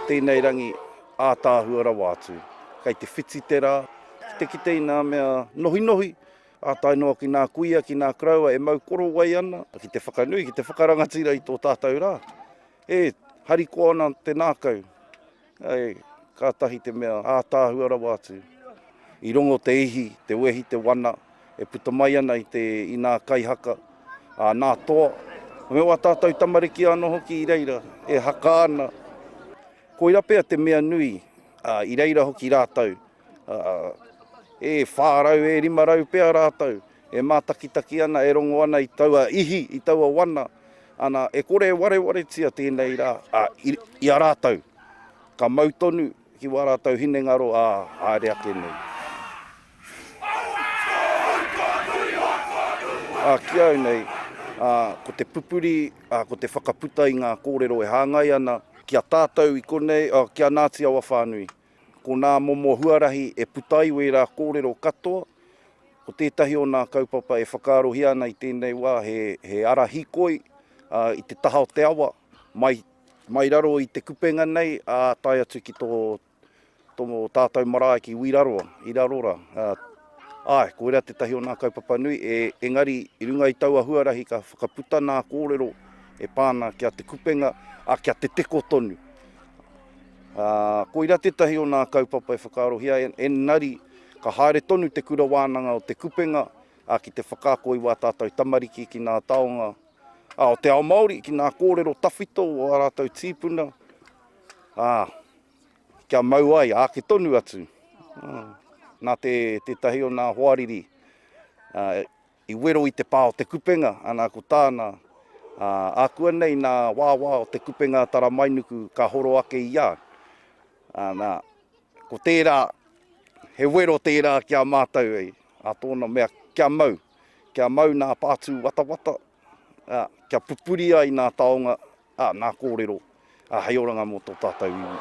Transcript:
Tēnei rangi ātaahua rawa atu. Kei te whiti te rā, ki te kite i ngā mea nohinohi, Ā tae noa ki nā kuia, ki nā karaua e mau korowai ana, ki te whakanui, ki te whakarangatira i tō tātou rā, e harikoa ana te nākau, āe, kātahi te mea ātaahua rawa atu. I rongo te ihi, te wehi, te wana e puta mai ana i te, i nā kaihaka, ā, nā toa, me wā tātou tamariki anō hoki i reira, e haka ana. Koira pea te mea nui, ā, i reira hoki rātou. E whā rau, e rima rau pea rātou e mātakitaki ana, e rongo ana i taua ihi, i taua wana, ana, e kore e warewaretia tēnei rā i a rātou, ka mau tonu ki wā rātou hinengaro, ā, haere ake nei. Ā, ki au nei, ko te pupuri, ko te whakaputa i ngā kōrero e hāngai ana ki a tātou i konei, ki a Ngāti Awa whānui. Ko nā momo huarahi e puta ai wērā kōrero katoa, ko tētahi o nā kaupapa e whakaarohia ana i tēnei wā he, he ara hikoi i te taha o te awa, mai, mai raro i te kupenga nei, ā, tae atu ki tō, tō tātou marae ki Wiraroa, i raro rā. Āe, koirā tētahi o nā kaupapa nui, e, engari i runga i taua huarahi ka whakaputa nā kōrero e pā ana kia te kupenga, ā, kia te teko tonu. Ā, koira tētahi o nā kaupapa e whakaarohia, engari ka haere tonu te Kura Wānanga o Te Kupenga, ā, ki te whakaako i wā tātou tamariki ki nā taonga, ā, o te ao Māori, ki nā kōrero tawhito o ā rātou tīpuna, ā, kia mau ai, āke tonu atu. Ā, nā te, tētahi o nā hoariri, ā, I wero i te pā o Te Kupenga, ana ko tāna, ā, ākuanei nā wāwā o Te Kupenga a Taramainuku ka horo ake i a, ā, nā, ko tērā, he wero tērā ki a mātou, hei, ā tōna mea, kia mau, kia mau nā pātū watawata, ā, kia pupuri ai nā taonga Ā, nā kōrero, ā, hei oranga mō tō tātou iwi.